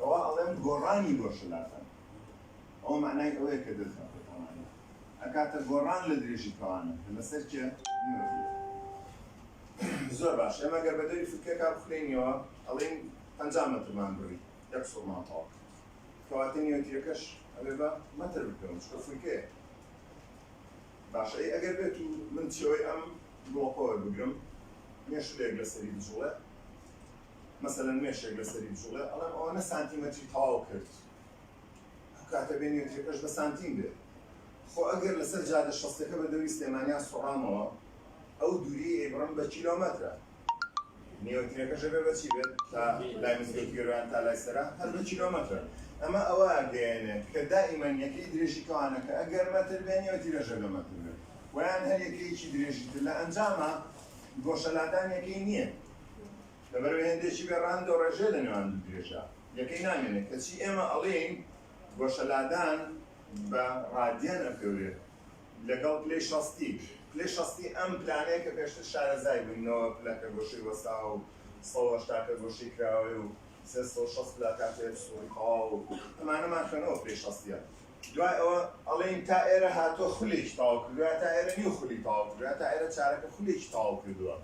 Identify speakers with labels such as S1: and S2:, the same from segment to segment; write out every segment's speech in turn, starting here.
S1: ئەوا ئەڵێم گۆڕانی بۆ شلاتان ئەوە مەعنای ئەوەیە کە دەست بە پێکەوانە ئەکاتە گۆڕان لە درێژی کەوانە کە لەسەر کێ نوێژیە. زۆر باش ئێمە گەر بەدەوری فلکەکە بخلێنیەوە ئەڵێین پەنجا مەترمان بڕی یەک سوڕمان تەواو کرد کەواتە نیوەتیەکەش ئەبێ بە مەتر بکەون چکە فلکەیە باش ئەی ئەگەر بێت و من چێوەی ئەم گڵۆپە وەربگرم مێشولەیەک لەسەری بجوڵێ مەسەلەن مێشێک لەسەری بجوڵێ ئەڵێم ئەوەنە سانتیمەتری تەواو کرد ئەو کاتە بێنیۆترەکەش بە سانتیم بێ خۆ ئەگەر لەسەر جادە شەستەکە بە دەوری سلێمانیان سوڕامەوە ئەو دووریەی ئەیبڕم بە کیلۆمەترە نیۆترەکەش ئەبێ بە چی بێت تا لای مزگەوتی گەروان تا لای سەرا هەر بە کیلۆمەترە ئەمە ئەوە گەیەنێت کە دائیمەن یەکەی درێژی کەوانەکە ئەگەر مەتر بێ نیۆترەش ئەبێ مەتر بێ وەیان هەر یەکەیەکی درێژی تر لە ئەنجاما گۆشەلادان یەکەی نییە لەبەرەوەی هێندێکی بێ ڕان دۆڕێژێ لە نێوان دوو درێژە یەکەی نامێنێ کەچی ئێمە ئەڵێین گۆشەلادان بە ڕادیەن ئەپێورێ لەگەڵ پلەی شەستی پلەی شەستی ئەم پلانەیە کە پێشتر شارەزای بووین نەوە پلەکە گۆشەی وەستاوە و سەد و هەشتاکە گۆشەی کراوەیە و سێ سەد و شەست پلا کاتێ سوڕی تەواو و ئەمانەمان خوێنەوە پلەی شەستیە دوای ئەوە ئەڵێین تا ئێرە هاتووە خولێکی تەواو کردووە تا ئێرە نیو خولی تەواو کردووە تا ئێرە چارەکە خولێکی تەواو کردووە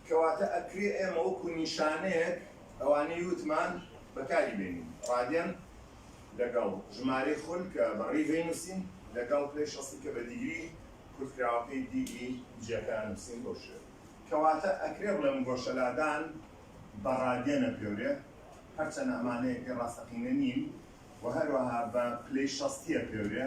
S1: کەواتە ئەکرێ ئێمە وەکو نیشانەیەک ئەوانەی وتمان بەکاری بێنین، ڕادێن لەگەڵ ژمارەی خول کە بە ڕیڤەی نووسین لەگەڵ پلەی شەستی کە بە دیگری کورتکراوەکەی دی ئی جیەکە نووسین بەو شێوەیە. کەواتە ئەکرێ بڵێم گۆشەلادان بە ڕادێن ئەپێورێ، هەرچەنە ئەمانە یەکەی ڕاستەقینە نین، و هەروەها بە پلەی شەستی ئەپێورێ.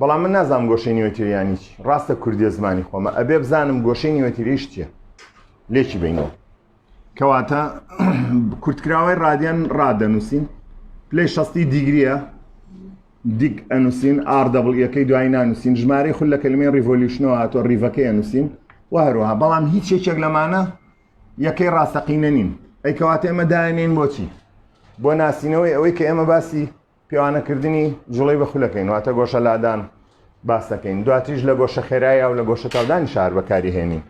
S1: بەڵام من نازانم گۆشەی نیوەتیرە یانی چی ڕاستە کوردی زمانی خۆمە ئەبێ بزانم گۆشەی نیوەتیریش چییە لێکی بینەوە کەواتە کورتکراوەی ڕادیان ڕادەنووسین پلی شستی دیگریە دیگ ئەنووسین ئاردەبڵیەکەی دوای نانووسین ژمارەی خول لە کلمی ریڤۆلیوشنەوە هاتۆ ریڤەکەی ئەنووسین و هەروەها بەڵام هیچ یەکێک لەمانە یەکەی ڕاستەقینە نین ئەیکەواتە ئێمە داێنین بۆچی بۆ ناسینەوەی ئەوەی کە ئێمە باسی پێوانەکردنی جوڵەی بە خولەکەین واتە گۆشە لادان باس دەکەین دواتیش لە گۆشە خێرایە و لە گۆشە تاودانی شار بەکاری هێنین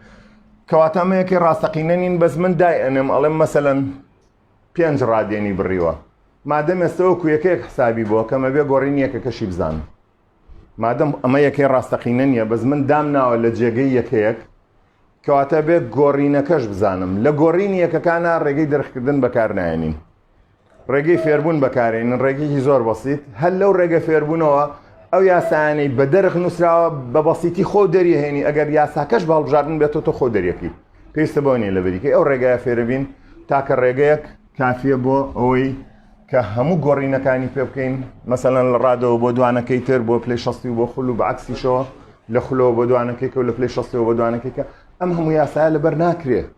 S1: کەواتە مەیەکی ڕاستەقینە نین بەس من دای ئەنێم ئەڵێم مەسەەن پێنج ڕادێنی بڕیوە مادەم ئێستەوە کویەکەیەک حسابی بۆ کەمە بێ گۆڕین یەکە کەشی بزان مادەم ئەمە یەکەی ڕاستەقینە نیە بەس من دام ناوە لە جێگەی یەکەیەک کەواتە بێ گۆڕینەکەش بزانم لە گۆڕینی یەکەکانە ڕێگەی دەرخکردن بەکار نایەنین ڕێگەی فێربوون بەکارێنن ڕێگەیەکی زۆر بەسیت هەر لەو ڕێگە فێربوونەوە ئەو یاسایانەی بە دەرخ نووسراوە بە بەسیتی خۆ دەریهێنی ئەگەر یاساکەش باڵبژاردن بێتەوە تۆ خۆ دەریەکەی پێویستە بۆ نیە لە بریکەی ئەو ڕێگایە فێربین تاکە ڕێگەیەک کافیە بۆ ئەوەی کە هەموو گۆڕینەکانی پێ بکەین مەسەەن لە ڕادەوە بۆ دوانەکەی تر بۆ پلی شستی و بۆ خول و بەعکسیشەوە لە خلەوە بۆ دوانەکەی کە لە پلی شستەوە بۆ دوانەکەیکە ئەم هەموو یاسایە لەبەر ناکرێت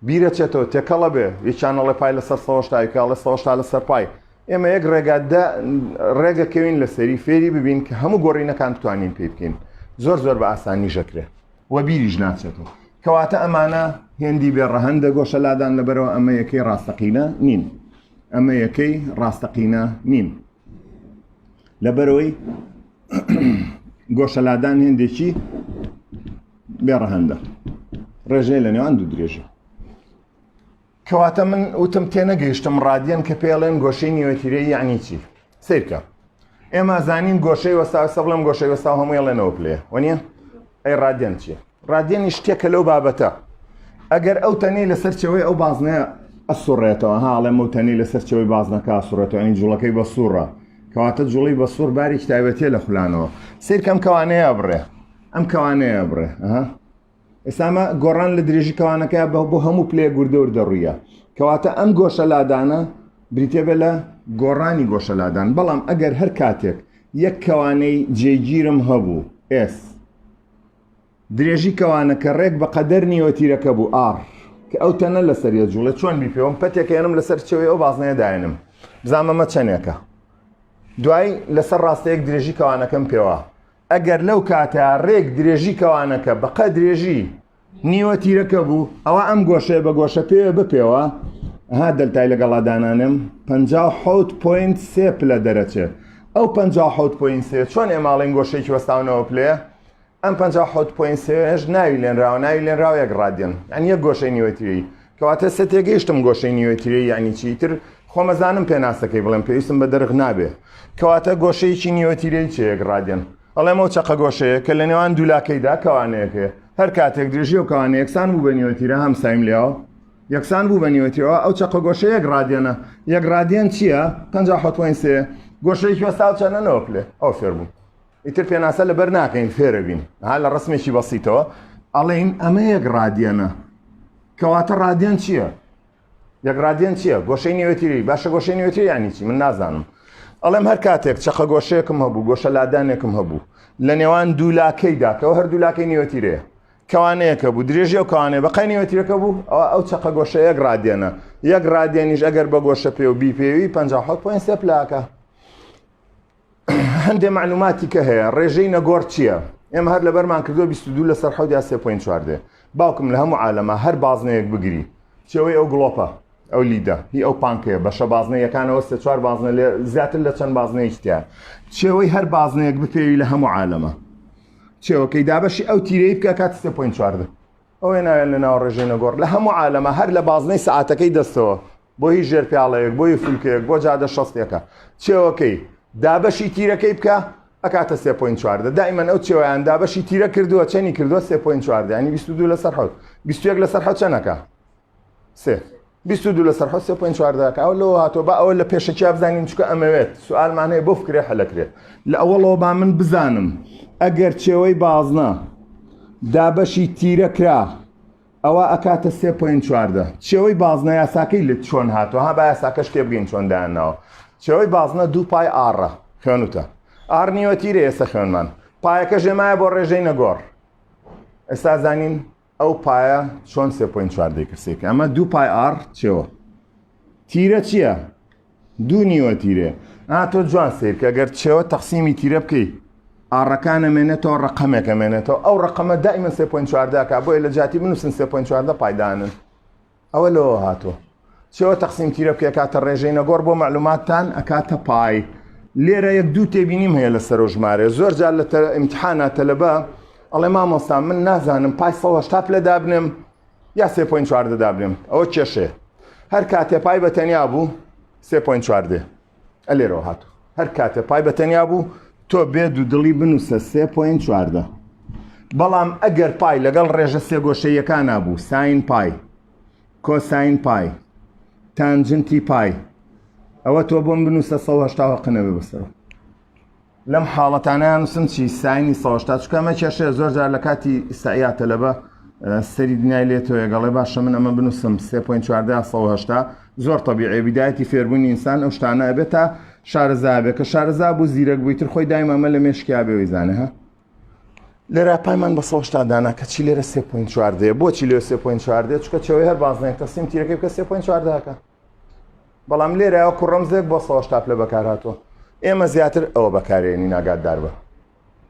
S1: بیرە چێتەوە تێکەڵە بێ یە چانەڵێ پای لەسەر سەۆشتای کاڵە سەۆشتا لەسەر پای ئێمە یەک ڕێگا ڕێگەکەوین لە سەری فێری ببین کە هەموو گۆڕینەکان بتوانین پێ بکەین زۆر زۆر بە ئاسانی ژەکرێ وە بیریش ناچێتەوە کەواتە ئەمانە هێندی بێ ڕەهندە گۆشە لادان لەبەرەوە ئەمە یەکەی ڕاستەقینە نین ئەمە یەکەی ڕاستەقینە نین لەبەرەوەی گۆشەلادان هێندێکی بێ ڕەهەندە ڕێژەیە لە نێوان دوو درێژە کەواتە من وتم تێ نەگەیشتم ڕادیەن کە پێڵێن گۆشەی نیوەتیرە یعنی چی سیرکە ئێمە زانین گۆشەی وەسا سە بڵم گۆشەی وەسا هەمووی ڵێنەوە پلێ وەنیە ئەی ڕادیەن چیە ڕادیێنی شتێکە لەو بابەتە ئەگەر ئەو تەنی لە سەرچەوەی ئەو بازنەیە ئەسوڕێتەوە هاڵێ مەوتەنی لە سەرچەوەی بازنەکە سوڕێتەوە ئەین جوڵەکەی بە سوڕە کەواتە جوڵی بە سوور باری کتابەتە لە خولانەوە سیرکەم کەوانەیە بڕێ ئەم کەوانەیە بڕێ ئەها ئێسامە گۆڕان لە درێژی کەوانەکە بە بۆ هەموو پلێ گوردەور دەڕویە کەواتە ئەم گۆشە لادانە بریتێ بە لە گۆڕانی گۆشە لادان بەڵام ئەگەر هەر کاتێک یەک کەوانەی جێگیرم هەبوو ئێس درێژی کەوانەکە ڕێک بە قەدەر نیوە تیرەکە بوو ئار کە ئەو تەنە لەسەر یە جوڵە چۆن بیپێوم پەتێکێنم لەسەر چەوەی ئەو بازنەیە داێنم بزانمەمە چەندێکە دوای لەسەر ڕاستەیەک درێژی کەوانەکەم پێوە ئەگەر لەو کاتە ڕێک درێژی کەوانەکە بەقە درێژی نیوە تیرەکە بوو ئەوە ئەم گۆشەیە بە گۆشە پێوە بپێوە ها دەلتای لەگەڵا دانانم 19.3 پلە دەرەچێ ئەو 19.3 چۆن ئێماڵین گۆشێکی وەستاونەوە پلەیە ئەم 19.3 ناوی لێنراوە ناوی لێنراوە یەک ڕادێن ئەن یەک گۆشەی نیوەتیری کەواتە سە تێگەیشتم گۆشەی نیۆتریی یانی چی تر خۆمەزانم پێناسەکەی بڵێم پێویستم بە دەرخ نابێ کەواتە گۆشەیەکی نیۆتیرەی چەیەک ڕادێن ئەڵێمەوە چەقە گۆشەیە کە لە نێوان دوولاکەیدا کەوانەیەکێ هەر کاتێک درێژی و کەوانە یەکسان بوو بە نیۆتیرە هەم سایم لێەوە یەکسان بوو بە نیۆتیەوە ئەو چەقە گۆشە یەک ڕادێنە یەک ڕادێن چییە پێ حوتوین سێ گۆشەیەکی وەساو چەنەوە پلێ ئەو فێر بوو ئیتر پێناسە لەبەر ناکەین فێرەبین ها لە ڕسمێکی بەسیتەوە ئەڵێین ئەمە یەک ڕادیەنە کەواتە ڕادیان چییە؟ یەک ڕادیان چییە گۆشەی نوێتیری باشە گۆشەی نوێتری ینی چی من نازانم ئەڵێم هەر کاتێک چەقە گۆشەیەکم هەبوو گۆشە لادانێکم هەبوو لە نێوان دوولاکەی داکەەوە هەر دوولاکەی نوێتیرەیە کەوانەیەەکە بوو درێژی و کەوانێ بەقای نوێتیرەکە بوو ئەوە ئەو چەقە گۆشە یەک ڕادێنە یەک ڕادێنیش ئەگەر بە گۆشە پێ و بیپێوی 5 پلاکە هەندێ مەعلوماتی کە هەیە ڕێژەی نەگۆڕ چییە؟ ئێمە هەر لەبەرمان کردو 22 لەسەر حەوت یا 3.4 دێ باوکم لە هەموو عالەما هەر بازنەیەک بگری چێوەی ئەو گڵۆپە ئەو لیدە هی ئەو پانکەیە بەشە بازنەیەکانەوە سێ چوار بازنە لێ زیاتر لە چەند بازنەیەکتیا چێوەی هەر بازنەیەک بپێوی لە هەموو عالەمە چێوەکەی دابەشی ئەو تیرەی بکە کات سێ پوین چواردە ئەوێ ناوێن لە ناو ڕێژەی نەگۆڕ لە هەموو عالەمە هەر لە بازنەی سعاتەکەی دەستەوە بۆ هیچ ژێر پیاڵەیەک بۆ هی فولکەیەک بۆ جادە شەستێکە چێوەکەی دابەشی تیرەکەی بکە ئەکاتە سێ پوین چواردە دایمەن ئەو چێویان دابەشی تیرە کردووە چەنی کردووە سێ پوین چواردە ینی بیست دوو لەسەر حوت بیستێک لەسەر حە چەنەکە سێ بیست دوو لەسەر حە سێ پوین چواردەکە ئەو لەوە هاتۆ بە ئەوە لە پێشەکی بزانین چکە ئەمەوێت سوالمان هەیە بۆ فکرێ حەلەکرێت لە ئەوەڵەوە با من بزانم ئەگەر چێوەی بازنە دابەشی تیرە کرا ئەوا ئەکاتە سێ پۆینت چواردە. چێوەی بازنە یاساکەی لت چۆن هاتووە؟ ها با یاساکەش تێبگەین چۆن دایانناوە. چێوەی بازنە دوو پای ئاڕە. خوێن وتە. ئاڕ نیوەتیرە ئێسە خوێنمان. پایەکەش هێمایە بۆ ڕێژەی نەگۆڕ. ئێستا زانین ئەو پایە چۆن سێ پۆینت چواردەی کەسێکە. ئەمە دوو پای ئاڕ چێوە. تیرە چییە؟ دوو نیوە تیرەیە ئا تۆ جوان سەیرکە گەر چێوە تەقسیمی تیرە بکەی ئاڕەکان ئەمێنێتەوە ڕقەمێک ئەمێنێتەوە ئەو ڕقەمە دایمە سێ پوین چواردەکە بۆیە لە جاتی بنووسن سێ پوین چواردە پایدانن ئەوە لەوە هاتووە چێوە تەقسیم تیرە بکە کاتە ڕێژەی نەگۆڕ بۆ معلوماتتان ئەکاتە پای لێرە یەک دوو تێبینیم هەیە لە سەرۆ ژمارە زۆر جار لە ئیمتحانە تەلەبە ئەڵێ مامۆستا من نازانم پای سەهشتا پلە دابنێم یا سێ پۆینت چواردە دابنێم ئەوە کێشەیە هەر کاتێ پای بە تەنیا بوو سێ پۆینت چواردێ ئە لێرەوە هاتو هەر کاتێ پای بە تەنیا بوو تۆ بێ دوو دڵی بنووسە سێ پۆینت چواردە بەڵام ئەگەر پای لەگەڵ ڕێژە سێگۆشەیەکان نبوو ساین پای کۆساین پای تانجنتی پای ئەوە تۆ بۆم بنووسە 1970 قنەوێ بەسەر لەم حاڵەتانە یانوسم چی ساینی سەوە هەشتا چونکە ئەمە کێشەیە زۆر جار لە کاتی ئیستعیا تەلەبە سەری دنیای لێ تۆ یەگەڵێ باشە من ئەمە بنووسم 3.14 زۆر طبیعێ بدایەتی فێربوونی ئینسان ئەو شتانە ئەبێت تا شارەزا بێ کە شارەزا بوو زیرەک بووی تر خۆی دایم ئەمە لە مێشکیا بێەوەی زانە ها لێرا پایمان بە سەشتا دانا کە چی لێرە 3.4 بۆچی لێ 3.4 چکە چەوەی هەر بازنێن کەسیم تیرەکەی کە 3.4ەکە بەڵام لێرە وەکو ڕەمزێک بۆ سڵاو شتاپ لە بەکار هاتووە ئێمە زیاتر ئەوە بەکارێنی ناگاتدار بە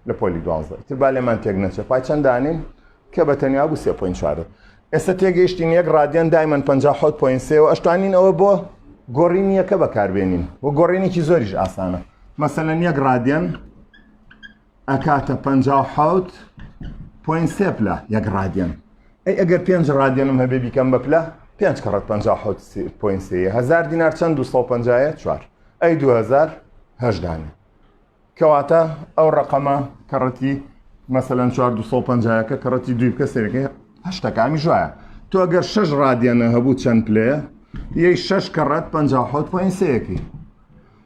S1: لە پۆلی دوانزە تر با لێمان تێک نەچێ پای چەند دانین کە بە تەنیا بوو سێ پوین چوارە ئێستا تێگەیشتین یەک ڕادیان دایمەن پ حوت پوین سێ و ئەشتوانین ئەوە بۆ گۆڕینی یەکە بەکاربێنین و گۆڕینێکی زۆریش ئاسانە مەسەەن یەک ڕادیان ئەکاتە پەنجا و حەوت پۆین سێ پلە یەک ڕادیەن ئەی ئەگەر پێنج ڕادیەنم هەبێ بیکەم بە پلە پێنج کەڕەت پەنجا و حەوت پۆین سێ هەزار دینار چەند دو سەد و پەنجایە چوار ئەی دو هەزار هەژدانە کەواتە ئەو ڕقەمە کەڕەتی مەسەەن 450ەکە کەڕەتی دوی بکە سەرەکە هەشتەکانی ژایە تۆ گەر شش ڕادیانە هەبوو چەند پلەیە یەی شش کەڕەت 5 پوین سەیەکی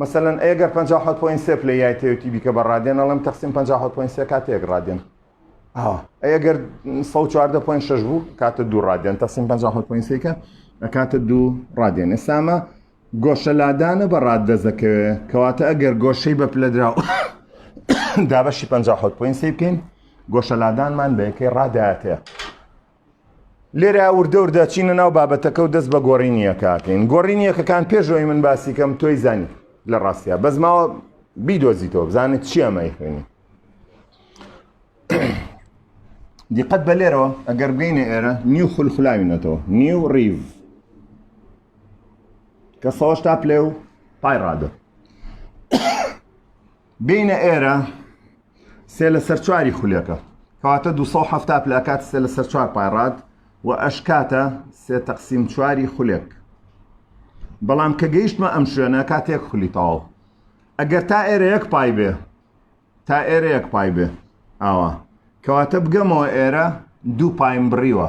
S1: مەسەلەن ئەی گەر پەنجا و حەوت پۆینت سێ پلەی یایتەوێتی بیکە بە ڕادێن ئەڵێم تەقسیم پەنجا و حەوت پۆینت سێ کاتە یەک ڕادێن ئەوە ئەی گەر سەد و چواردە پۆینت شەش بوو کاتە دوو ڕادێن تەقسیم پەنجا و حەوت پۆینت سێکە ئەکاتە دوو ڕادێن ئێسامە گۆشە لادانە بە ڕاد دەست دەکەوێت کەواتە ئەگەر گۆشەی بە پلە درا دابەشی پەنجا و حەوت پۆینت سێ بکەین گۆشە لادانمان بە یەکەی ڕادایەتەیە لێرە وردەور دەچینە ناو بابەتەکە و دەست بە گۆڕینی یەکاکەین گۆڕینی یەکەکان پێشەوەی من باسی کەم تۆی زانی لە ڕاستە بەس ماوە بیدۆزیتەوە بزانێت چی ئەمەی خوێنی دیقەت بە لێرەوە ئەگەر بگەینە ئێرە نیو خولخلاوینەتەوە نیو ڕیڤ کە سەوەش تا پلێ و پای ڕادە بێینە ئێرە سێ لە سەر چواری خولەکە کەواتە 270 پلە ئەکات سێ لەسەر چوار پایڕات و ئەشکاتە سێ تەقسیم چواری خولێک بەڵام کە گەیشتمە ئەم شوێنە کاتێک خولی تاو ئەگەر تا ئێرە یەک پای بێ تا ئێرە یەک پای بێ ئاوا کەواتە بگەمەوە ئێرە دوو پایم بڕیوە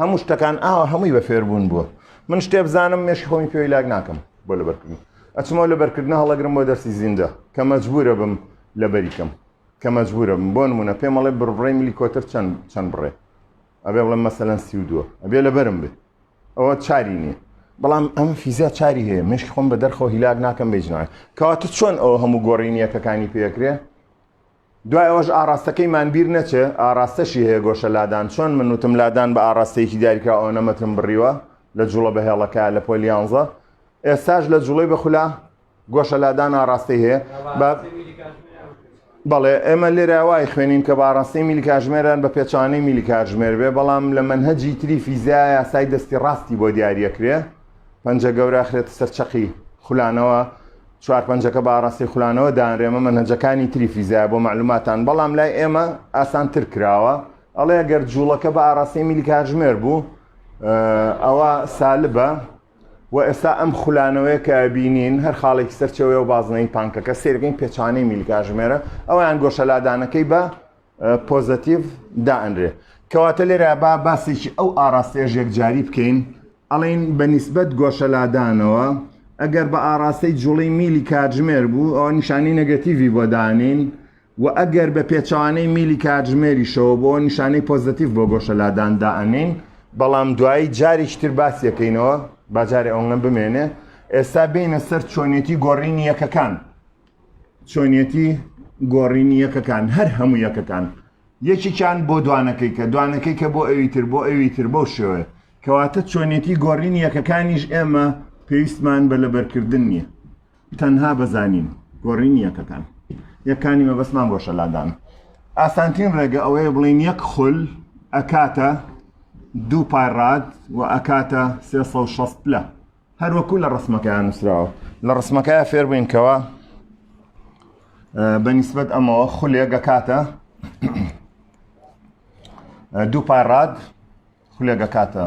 S1: هەموو شتەکان ئاوا هەمووی بە فێربوون بووە من شتێ بزانم مێشی خۆمی پێوی لاک ناکەم بۆ لەبەرکردن ئەچمەوە لەبەرکردن هەڵەگرم بۆ دەرسی زیندە کە مەجبورە بم لەبەریکەم کە مەجبورە بم بۆ نمونە پێمەڵێ بڕڕێ ملی کۆتر چەند چەند بڕێ ئەبێ بڵێ مەسەەن سی و دووە ئەبێ لەبەرم بێ ئەوە چاری نییە بەڵام ئەم فیزیا چاری هەیە مشک خۆم بە دەرخۆ هیلاک ناکەم بێژنە کەواتە چۆن ئەو هەموو گۆڕینیەکەکانی پێکرێ دوای ئەوەش ئاڕاستەکەیمان بیر نەچێ ئاڕاستەشی هەیە گۆشە لادان چۆن من وتم لادان بە ئاڕاستەیەکی دیاریکراو ئەوەنە مەترم بڕیوە لە جوڵە بەهێڵەکە لە پۆل یانزە ئێستاش لە جوڵەی بە خولا گۆشە لادان ئاڕاستەی هەیە بە بەڵێ ئێمە لێرە وای خوێنین کە باڕاستی میلی کاژمێران بە پێچوانەی میلی کاژمێر بێ بەڵام لە منهجی تری فیزیا یاسای دەستی ڕاستی بۆ دیارەکرێ پەنجە گەورە خرێتە سەر چەقی خولانەوە چوار پەنجەکە بە ئاڕاستەی خولانەوە دانرێمە مەنهەجەکانی تری فیزیایە بۆ مەعلوماتان بەڵام لای ئێمە ئاسان تر کراوە ئەڵێ گەر جوڵەکە بە ئاڕاستەی میلی کاژمێر بوو ئەوە سالبە و ئێستا ئەم خولانەوەی کە بینین هەر خاڵێکی سەرچەوەی و بازنەی پانکەکە سێرگەین پێچانەی میلگاژمێرە ئەویان گۆشەلادانەکەی بە پۆزەتیڤ دائەنرێ کەواتە لێرە با باسێکی ئەو ئاراستەیە ژێکجاری بکەین ئەڵین بە نیسبەت گۆشەلادانەوە ئەگەر بە ئاراستەی جوڵی میلی کاتژمێر بوو ئەو نیشانەی نەگەتیڤی بۆ دانین و ئەگەر بە پێچوانەی میلی کاتژمێریشەوە بۆ نیشانەی پۆزەتیف بۆ گۆشەلادان دائەنین بەڵام دوایی جارێکی تر باسیەکەینەوە باجارێ ئەوەنگەم بمێنێ ئێستا بینە سەر چۆنێتی گۆڕینی یەکەکان چۆنیەتی گۆڕینی یەکەکان هەر هەموو یەکەکان یەکێکیان بۆ دوانەکەی کە دوانەکەی کە بۆ ئەوی تر بۆ ئەوی تر بەو شێوەیە کەواتە چۆنیەتی گۆڕینی یەکەکانیش ئێمە پێویستمان بە لەبەرکردن نییە تەنها بەزانین گۆڕینی یەکەکان یەکانی مەبەستمان بۆ شەلادان ئاسانترین ڕێگە ئەوەیە بڵین یەک خول ئەکاتە دوو پای ڕاد و ئەکاتە 360 پلە هەروەکو لە ڕسمەکەیان نووسراوە لە ڕسمەکەی فێربووین کەەوە بەنیسبەت ئەمەوە خولێک دەکاتە دوو پای ڕاد خولێک دەکاتە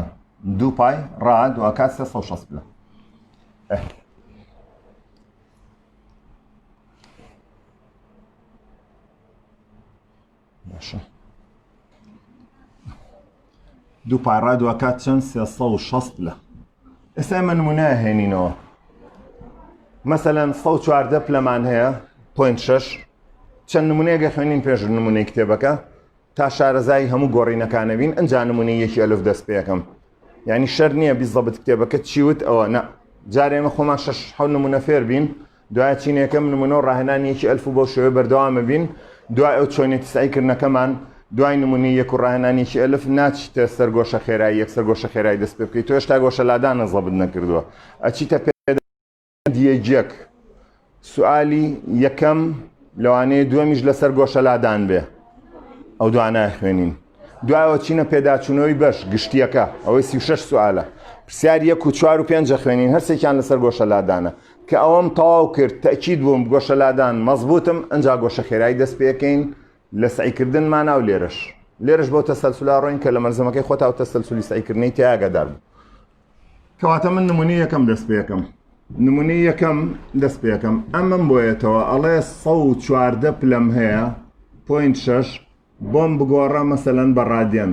S1: دوو پای ڕاد و کات 16 پلە باشە دوو پارا دواکات چەند سێ سە و شەست لە ئێستا من منە هێنینەوە مەسەەن سە و چواردە پلەمان هەیە پوین شش چەند نمونەیەگە خوێنین پێش نمونەی کتێبەکە تا شارەزایی هەموو گۆڕینەکانەبین ئەنج نمونی یەکی ئەلف دەست پێەکەم ینی شەر نییە بیزەبت کتێبەکە چیوت ئەوە نە جارێمە خۆمان شش حەو نمونە فێر بین دوای چینی یەکەم نمونە و ڕاهێنانی یەکی ئەلف و بەو شێوەیە بەردەوامە بین دوای ئەو چۆنیەتی سەعی کردنەکەمان دوای نمونەی یەک و ڕاهێنانی یەکی ئەلف ناچیتە سەر گۆشە خێرای یەکسەر گۆشە خێرای دەست پێ بکەیت تۆ هێشتا گۆشە لادانە زەبت نەکردووە ئەچیتە پێدیەک سوالی یەکەم لەوانەیە دووەمیش لەسەر گۆشە لادان بێ ئەو دوانای خوێنین دوایەوە چینە پێداچوونەوەی بەش گشتیەکە ئەوەی سی6 سوالە پرسیار یەک و چوار و پێنجە خوێنین هەرسێکیان لەسەر گۆشە لادانە کە ئەوەم تەواو کرد تەئکید بووم گۆشە لادان مەزبوتم ئنجا گۆشە خێرای دەست پێکەین لە سەعی کردن مانا و لێرەش لێرەش بەو تەسەلسولە ڕۆین کە لە مەلزەمەکەی خۆتا و تەسەلسولی سەعی کردنی تێ ئاگادار بوو کەواتە من نمونی یەکەم دەست پێکەم نمونی یەکەم دەست پێکەم ئەمەم بۆیەتەوە ئەڵێ سە و چواردە پلەم هەیە پوینت شەش بۆم بگۆڕە مەسەلەن بە ڕادیەن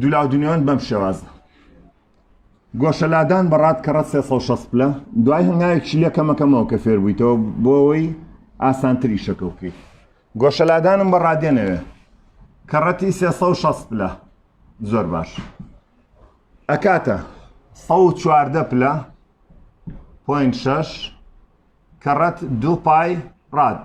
S1: دولاو دنیۆن بەم شێوازە گۆشە لادان بە ڕات کە ڕەت 360 پلە دوای هەنگاوێکی لێ کەمەکەمەوە کە فێر بوویتەوە بۆ ئەوەی ئاسانتری شەکە بکەیت گۆشە لادانم بە ڕادێنەوێ کە ڕەتی 360 پلە زۆر باش ئەکاتە 114 پلە پوین شش کە ڕەت دوو پای ڕات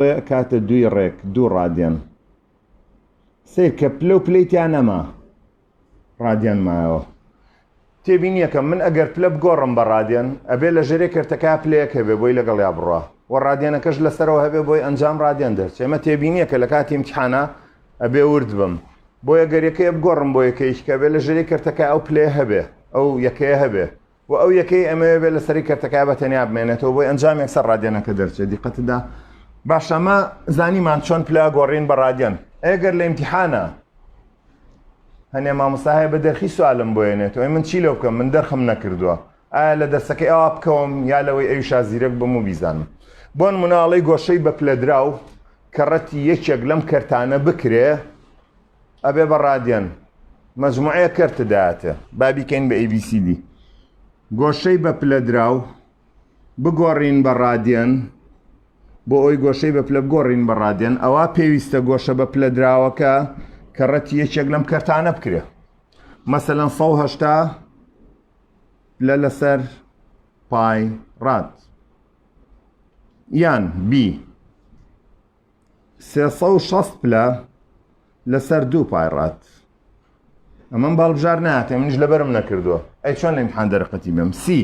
S1: بۆیە ئەکاتە دووی ڕێک دوو ڕادیان سیر کە پلە و پلەی تیا نەما ڕادیان مایەوە تێبینیەکەم من ئەگەر پلە بگۆڕم بە ڕادیان ئەبێ لە ژێرێ کەرتەکە پلەیەک هەبێ بۆی لەگەڵ یا بڕە و ڕادیانەکەش لەسەرەوە هەبێ بۆی ئەنجام ڕادیان دەرچێ ئەمە تێبینیەکە لە کاتی امتحانە ئەبێ ورد بم بۆیە گەرەکەیە بگۆڕم بۆ یەکەیش کە بێ لە ژێری کەرتەکە ئەو پلێ هەبێ ئەو یەکەیە هەبێ و ئەو یەکەی ئەمەوێ بێت لەسەری کەرتەکە بە تەنیا بمێنێتەوە بۆی ئەنجامێک سەر ڕادێنەکە دەرچێت دیقەتدا باشە ئەمە زانیمان چۆن پلا گۆڕین بە ڕادێن ئەگەر لە ئیمتحانە هەنێ مامۆستا هەیە بە دەرخی سوالم بۆێنێت ئەوی من چی لەو بکەم من دەرخم نەکردووە ئایا لە دەرسەکەی ئەوا بکەوم یا لەوەی ئەوی شازیرەک بم و بیزانم بۆن مناڵی گۆشەی بە پلەدراو کە ڕەتی یەکێک لەم کەرتانە بکرێ ئەبێ بە ڕادیەن مەجموعەیە کەرت دایەتێ با بیکەین بە ABCD گۆشەی بە پلە دراو بگۆڕین بە ڕادیەن بۆ ئەوی گۆشەی بە پلە بگۆڕین بە ڕادیەن ئەوە پێویستە گۆشە بە پلە دراوەکە کە ڕەتی یەکێک لەم کەرتانە بکرێ مەسەەن 1970 لە لەسەر پای ڕات یان بی سێ سەد و شەست پلە لەسەر دوو پای ڕات ئەمەم باڵبژار ناتێ منیش لەبەرم نەکردووە ئەی چۆن لەم حان دەرقەتی بم سی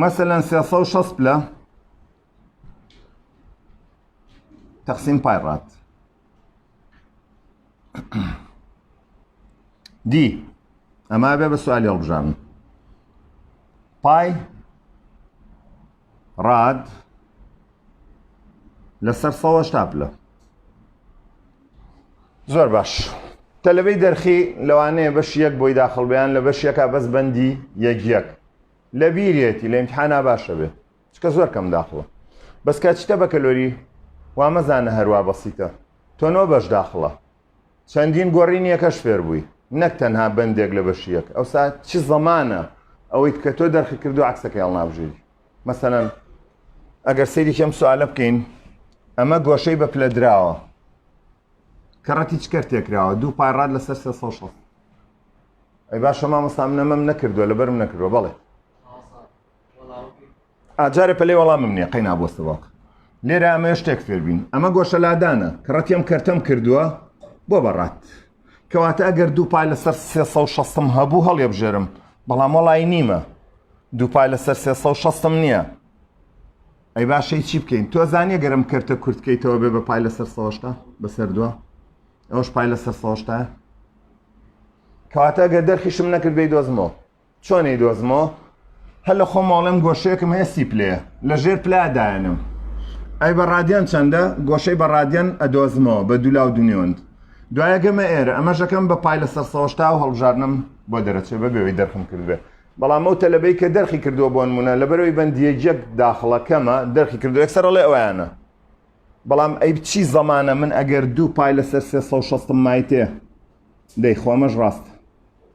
S1: مەسەەن سێ سەد و شەست پلە تەقسیم پای ڕات دی ئەما بێ بە سوالی هەڵبژارن پای ڕاد لەسەر سەوە شتاپلە زۆر باش تەلبەی دەرخی لەوانەیە بەش یەک بۆی داخڵ بیان لە بەش یەکە بەس بەندی یەک یەک لە بیرێتی لە امتحانا باشە بێ چکە زۆر کەم داخڵە بەس کە چتە بەکەلۆری وامەزانە هەروە بەسیتە تۆنەوە بەش داخڵە چەندین گۆرینی یەکەش فێربووی نەک تەنها بەندێک لە بەشی یەک ئەوسا چ زەمانە ئەوەیت کە تۆ دەرخی کردو عکسەکەی هەڵنابژێری مەسەەن ئەگەر سەیری کەم سوالە بکەین ئەمە گۆشەی بە پلە دراوە کەڕەتی چکەر تێکراوە دوو پارڕات لەسەر سێ سەد شەست ئەی باشە مامۆستا من نەمەم نەکردووە لەبەرم نەکردووە بەڵێ ئا جارێ پەلەی وەڵامم نییە قەینا بۆ سواق لێرە ئەمەوێ شتێک فێر بین ئەمە گۆشە لادانە کە ڕەتیم کەرتەم کردووە بۆ بەڕات کەواتە ئەگەر دوو پای لەسەر 360م هەبوو هەڵێبژێرم بەڵام وەڵی نیمە دوو پای لەسەر 360م نییە ئەی باشەی چی بکەین تۆ زانیە گەرم کەرتە کورتکەیتەوە بێ بە پای لەسەر سەشتا بەسەر دووە ئەوش پای لەسەر سەشتا کەواتە گەر دەرخیشم نەکردی دۆزمەوە چۆن ئەیدۆزمەوە هەر لە خۆمەوە ئەڵێم گۆشەیەکم هەیە سی پلەیە لە ژێر پلا دایەنم ئەی بە ڕادیان چەندە گۆشەی بە ڕادیان ئەدۆزمەوە بە دولا و دونیۆند دوایە گەمە ئێرە ئەمەشەکەم بە پای لە سەرسەوەشتا و هەڵبژارنم بۆ دەرەچێ بە بێەوەی دەرخم کردبێ بەڵام ئەو تەلەبەی کە دەرخی کردووە بۆن منە لەبەرەوەی بەندیەجەک داخڵەکەمە دەرخی کردو یەکسەرڵێ ئەویانە بەڵام ئەی بچی زەمانە من ئەگەر دوو پای لەسەر سێ مایتێ دەی خۆمەش ڕاستە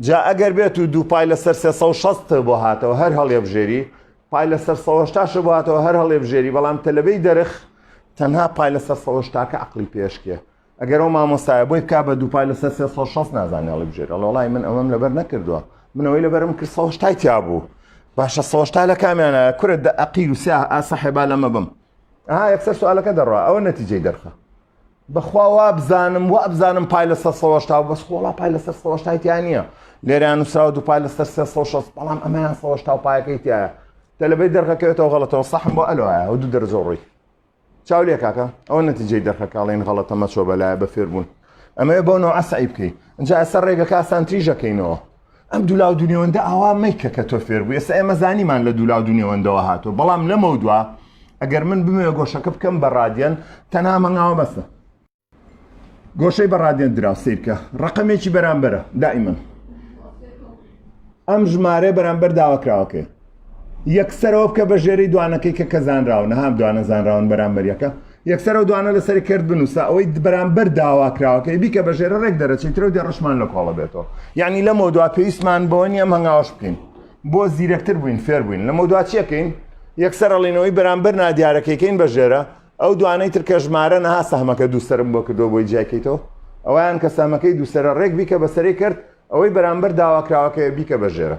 S1: جا ئەگەر بێت و دوو پای لەسەر سێ سەد و شەست بۆ هاتەوە هەر هەڵێبژێری پای لەسەر سەهشتاشە بۆ هاتەوە هەر هەڵێبژێری بەڵام تەلەبەی دەرخ تەنها پای لەسەر سەهشتاکە عقلی پێشکێ ئەگەر ئەو مامۆستایە بۆی بک بە دووپای لەسەر سێ سە شەست نازانانی هەڵی بژێر ئەڵۆڵای من ئەوەم لەبەر نەکردووە منەوەی لەبەرم کرد سەهشتای تیا بوو باشە سەهشتا لە کامیانە کورە دە عقیل و سیا ئاسەحێبا لەمە بم ئا یەکسەر سوالەکە دەڕە ئەوە نەتیجەی دەرخە بەخوا وابزانم وابزانم پای لەسەر سەد و هەشتا بەس خۆ وەڵا پای لەسەر سەد و هەشتای تیا نییە لێرەیان نووسراوە دوو پای لەسەر سێ سەد و شەست بەڵام ئەمەیان سەد و هەشتا و پایەکەی تایە تەلەبەی دەرەکەوێتەوە غەڵەتەوە سەحم بۆ ئەلۆایە و دوو دەرەجە و ڕووی چاو لێ کاکە ئەوە نەتیجەی دەرخەکاڵێن غەڵەتە مەچۆ بەلایە بە فێربوون ئەمەوێ بۆ نەوە عەسەعی بکەیت ئەجا ئەسەر ڕێگەکە ئاسانتریژەکەینەوە ئەم دوو لاو دوو نێوەندە ئاوا مەیکە کە تۆ فێر بوو ئێستا ئێمە زانیمان لە دوو لاو دوو نێوەندەوە هاتووە بەڵام لەمەو دوا ئەگەر من بمێ گۆشەکە بکەم بە ڕادیەن تەنها مەنگاوە بەسە گۆشەی بە ڕادیەن درا سیرکە ڕقمێکی بەرامبەرە دائیمەن ئەم ژمارە بەرامبەر داواکراوەکەی یەکسەرەوە بکە بە ژێرەی دوانەکەی کە کە زانراون نەهام دوانە زانراون بەرامبەریەکە یەکسەرەوە دوانە لەسەری کرد بنووسە ئەوەی بەرامبەر داواکراوەکەی بیکە بە ژێرە ڕێک دەرەچی ترە و دێڕشمان لە کۆڵە بێتەوە یعنی لە مۆدوا پێویستمان بەوە نیە مەنگاوەش بکەین بۆ زیرەکتر بووین فێر بووین لە مۆدوا چیەکەین یەکسەرەڵینەوەی بەرامبەر نادیارەکەیکەین بە ژێرە ئەو دوانەی تر کە ژمارە نەها سەحمەکە دووسرم بۆ کردو بۆی جیاکەیتەوە ئەویان کە سامەکەی دووسرە ڕێک بیکە بەسەری کرد ئەوەی بەرامبەر داواکراوەکەی بیکە بە ژێرە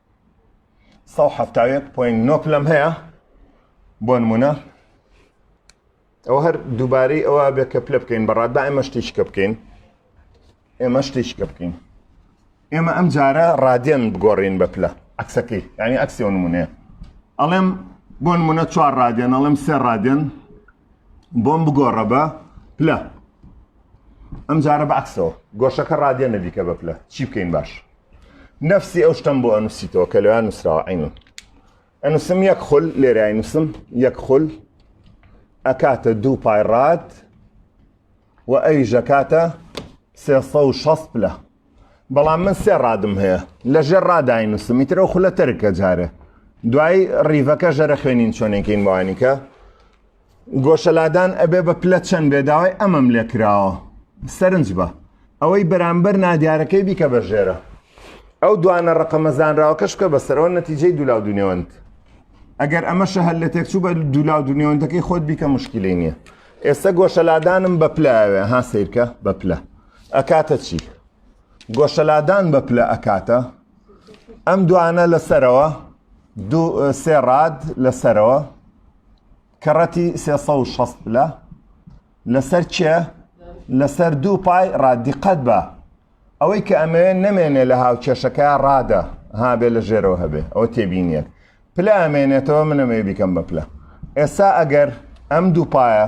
S1: سەد و حەفتا و یەک پۆینت نۆ پلەم هەیە بۆ نمونە ئەوە هەر دووبارەی ئەوە بێ کە پلە بکەین بەڕات با ئێمە شتیشکە بکەین ئێمە شتیشکە بکەین ئێمە ئەم جارە ڕادێن بگۆڕین بە پلە عکسەکەی ینی ئەکسی و نمونەیە ئەڵێم بۆ نمونە چوار ڕادێن ئەڵێم سێ ڕادێن بۆم بگۆڕە بە پلە ئەم جارە بە عکسەوە گۆشەکە ڕادێنە دیکە بە پلە چی بکەین باش نفسی ئەو شتم بۆ ئەنووسیتەوە کە لەوان نووسراوە عینون ئەنووسم یەک خول لێرای نووسم یەک خول ئەکاتە دوو پای ڕات و ئەی ژەکاتە سێ و شەست پلە بەڵام من سێ ڕادم هەیە لە ژێر ڕادای نووسمی ترە خولە تەرکە جارێ دوای ڕیڤەکە ژەرە خوێنین چۆنێکین بەوانیکە گۆشەلادان ئەبێ بە پلە چەند بێ داوای ئەمەم لێ کراوە سەرنج بە ئەوەی بەرامبەر نادیارەکەی بیکە بە ژێرە ئەو دوانە ڕقەمە زانراوەکەش بکە بەسەرەوە نەتیجەی دولا و دونێوەند ئەگەر ئەمەشە هەر لە تێکچوو بە دولا و دونێوەندەکەی خۆت بیکە مشکلی نییە ئێستا گۆشەلادانم بە پلاوێ ها سیرکە بە پلە ئەکاتە چی گۆشەلادان بە پلە ئەکاتە ئەم دوانە لەسەرەوە سێ ڕاد لەسەرەوە کەڕەتی 360 پلە لەسەر چێ لەسەر دوو پای ڕادیقەت بە ئەوەی کە ئەمەوێت نەمێنێ لە هاوکێشەکە ڕادە هابێ لە ژێرەوە هەبێ ئەوە تێبینیت پلە ئەمێنێتەوە منەمەوێ بیکەم بە پلە ئێستا ئەگەر ئەم دوو پایە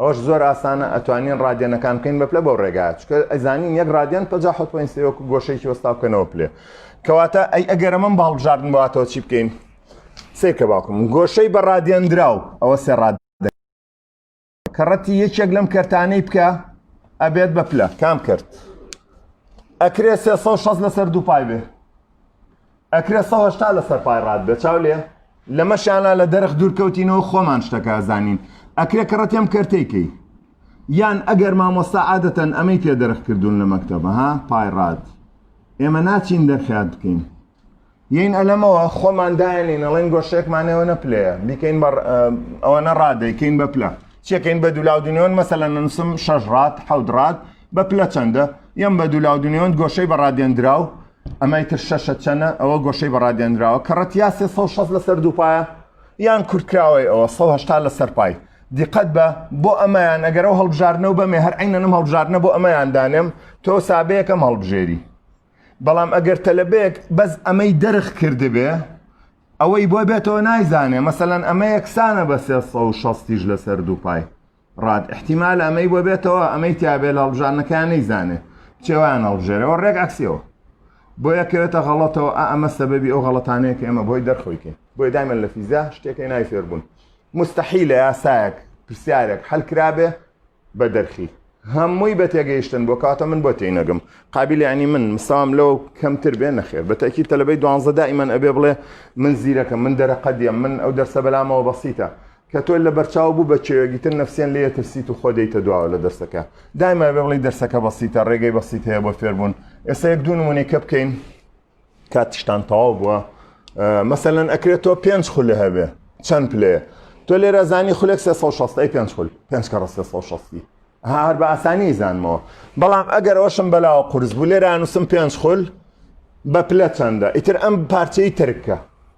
S1: ئەوەش زۆر ئاسانە ئەتوانین ڕادیەنەکان بکەین بە پلە بەو ڕێگایە چکە ئەزانین یەک ڕادیەن پەنجا حەوت پۆینت سێ وەکو گۆشەیەکی وەستا بکەنەوە پلێ کەواتە ئەی ئەگەر ئەمەم بە هەڵبژاردن بواتەوە چی بکەین سێ کە باوکم گۆشەی بە ڕادیەندراو ئەوە سێ ڕاد کەڕەتی یەکێک لەم کەرتانەی بکە ئەبێت بە پلە کام کرد ئەکرێ سێ سەد و شەست لەسەر دوو پای بێ ئەکرێ سەد و هەشتا لە سەر پای ڕات بێ چاو لێ لەمەشیانا لە دەرخ دوورکەوتینەوە خۆمان شتەکە زانین ئەکرێ کە ڕەتێم کەرتەی کەی یان ئەگەر مامۆستا عادەتەن ئەمەی پێ دەرخ کردوون لە مەکتەبە ها پای ڕات ئێمە ناچین دەرخیات بکەین یین ئەلەمەوە خۆمان داێنین ئەڵێن گۆشێکمانەوە نەپلەیە بیکەین بە ئەوەنە ڕادەیکەین بە پلە چێکەین بە دولاودنیۆن مەسەلەن نووسم شەش ڕات حەود ڕات بە پلە چەندە یەم بە دوولا و دونێوەند گۆشەی بە ڕادێنراو ئەمای تر شەشە چەنە ئەوە گۆشەی بە ڕادێنراوە کە ڕەتیا سێ سە شەست لەسەر دووپایە یان کورتکراوەی ئەوە سە هشتا لەسەر پای دیقەت بە بۆ ئەمەیان ئەگەرەوە هەڵبژارنە و بەمێ هەر عینەنم هەڵبژارنە بۆ ئەمەیان دانێم تۆ سابەیەکەم هەڵبژێری بەڵام ئەگەر تەلەبێک بەس ئەمەی دەرخ کردبێ ئەوەی بۆ بێتەوە نایزانێ مەسەەن ئەمە یەکسانە بە سێ شەستیش لەسەر دووپای ڕاد ئیحتیمالە ئەمەی بۆ بێتەوە ئەمەی تیابێ لە هەڵبژاردنەکەیان نەیزانێ چێوان هەڵبژێرەوە ڕێک عەکسیەوە بۆیە کەوێتە غەڵەتەوە ئا ئەمە سەبەبی ئەو غەڵەتانەیە کە ئێمە بۆی دەرخۆیکەین بۆی دایمە لە فیزیا شتێکی نای فێربوون مستحی لە یاسایەک پرسیارێک هەلکرابێ بە دەرخی هەمووی بە تێگەیشتن بۆ کاتە من بۆ تینەگەم قابلی عنی من مسام لەو کەمتر بێ نەخێر بەتەکی تەلبەی دوانزە دائیمەن ئەبێ بڵێ من زیرەکە من دەرەقەدیە من ئەو دەرسە بەلامەوە بەسیتە کە تۆ لە بەرچاو بوو بە چێوێک ئیتر نەفسیەن لێ ئەترسیت و خۆ دێیتە دواوە لە دەرسەکە دایمە ئەبێ بڵێی دەرسەکە بەسیتە ڕێگەی بەسیت هەیە بۆ فێربوون ئێستا یەک دوو نمونەیکە بکەین کات تشتان تەواو بووە مەسەلەن ئەکرێت تۆ پێنج خولە هەبێ چەند پلەیە تۆ لێرە زانی خولێک 360 ئەی پێنج خول پێنج کە ڕە 360 هەر بە ئاسانی زانمەوە بەڵام ئەگەر ئەوشم بەلاوە قرس بوو لێرانوسم پێنج خول بە پلە چەندە ئیتر ئەم پارچەی ترکە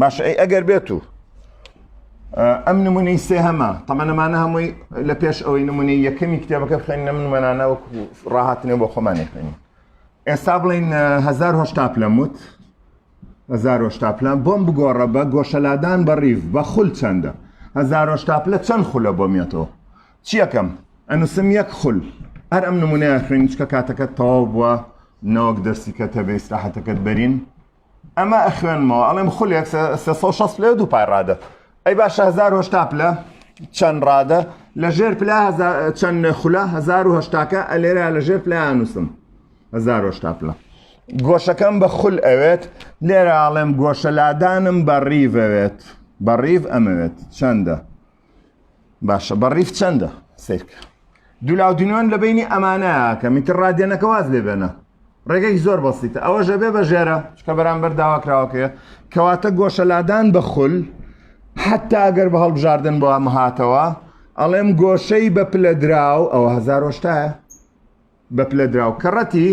S1: باشە ئەی ئەگەر بێت و ئەم نمونەی سێ هەمە تەمەەمانە هەمووی لە پێش ئەوەی نمونەی یەکەمی کتێبەکە بخێن نە منمەانە وەکو ڕاهاتنێ بۆ خۆمانێ خوێنی ئێستا بڵین هزار هشتا پلەموت هزار هشتا پلان بۆم بگۆڕە بە گۆشەلادان بە ڕیف بە خول چەندە هزار هشتا پلە چەند خولە بۆ مێتەوە چیەکەم ئەنووسم یەک خول هەر ئەم نمونەیە خوێنیچکە کاتەکە تەواو بووە نەوەک دەستیکە تەبێ ئیسراحەتەکەت بەرین ئەمە ئەخوێنمەوە ئەڵێم خولێک سێ سێ سەد و شەست پلەی و دوو پای ڕادە ئەی باشە هەزار و هەشتا پلە چەند ڕادە لە ژێر پلا هەزار- چەند خولە هەزار و هەشتاکە ئەلێرا لە ژێر پلایان نووسم هەزار و هەشتا پلە گۆشەکەم بە خول ئەوێت لێرە ئاڵێم گۆشە لادانم بە ڕیڤەوێت بە ڕیڤ ئەمەوێت چەندە باشە بە ڕیف چەندە سیرکە دولاو دنیۆن لە بینی ئەمانە کە میتر ڕادێنەکە واز لێ بێنە ڕێگەی زۆر بەسیتە ئەوە ژە بێ بە ژێرە چکە بەرامبەر داواکراوەکەیە کەواتە گۆشەلادان بە خول حتا ئەگەر بە هەڵبژاردن بۆ ئەمە هاتەوە ئەڵێم گۆشەی بە پلە دراو ئەوە هزار ۆشتایە بە پلە دراو کەڕەتی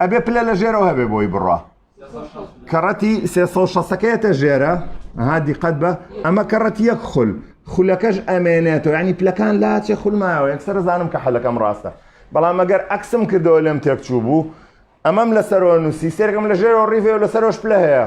S1: ئەبێ پلە لە ژێرەوە هەبێ بۆی بڕە کەڕەتی سێ شەکەیەتە ژێرە ها دیقەت بە ئەمە کەڕەتی یەک خول خولەکەش ئەمێنێتەوە ینی پلەکان لاچێ خولمایەوە یەکسەر زانم کە حەلەکەم ڕاستە بەڵام ئەگەر ئەکسم کردەوە لەم تێکچوو بوو ئەمەم لەسەرەوە نووسی سێرگم لە ژێرەوە ڕیڤێ لەسەرۆش پلە هەیە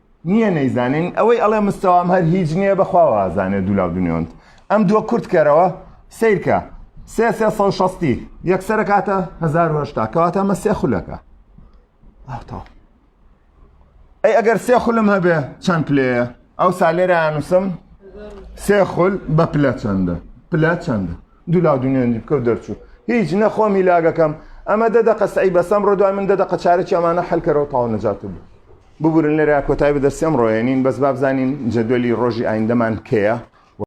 S1: نییە نەیزانین ئەوەی ئەڵێ مستەوام هەر هیچ نییە بەخوا وازانێ دولاو دنیۆند ئەم دووە کورت کەرەوە سیرکە سێ سێ سە شەستی یەکسرە کاتە هزار هشتا کەواتە مە سێ خولەکە ئەوتەوە ئەی ئەگەر سێ خولم هەبێ چەند پلەیە ئەو سالێرە نووسم سێ خول بە پلە چەندە پلە چەندە دولا دونیێنی بکە و دەرچوو هیچ نەخۆمی لاگەکەم ئەمە دە دەقە سعی بەسەم ڕۆ دوای من دە دەقە چارێکی ئەمانە حلکەرەوە تاو نەجات بوو ببورن لێرە کۆتای بە دەرسی ئەمڕۆ ئەێنین بەس بابزانین جەدوەلی ڕۆژی ئایندەمان کەیە؟